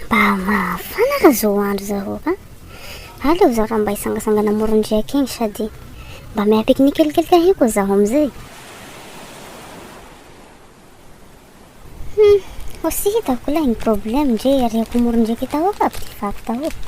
Mba mafana ka zao andro zao ka. Aleo zaho raha mba hisangasangana amoron-driaka iny sady mba miha pique-nique kelikely kahia koa zaho amin'izay. Hmm, ho tsy hitako ilay ny problème ndre ariako amoron-driaka i Tahoka aby ry vaky Tahoka.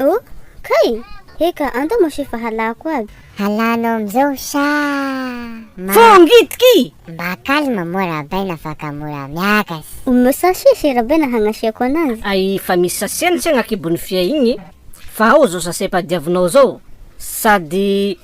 Oh kay! Eka anto moshe fa halako aby. Halanao amzao sha! Fongitki! Mba calme moa Rabaina afaka mora miakas. Omeo sachet se Rabaina hagnasiako anazy. Ay fa misy sachet ny tsena akibon'ny fia igny fa ao zao sachet padiavinao zao sady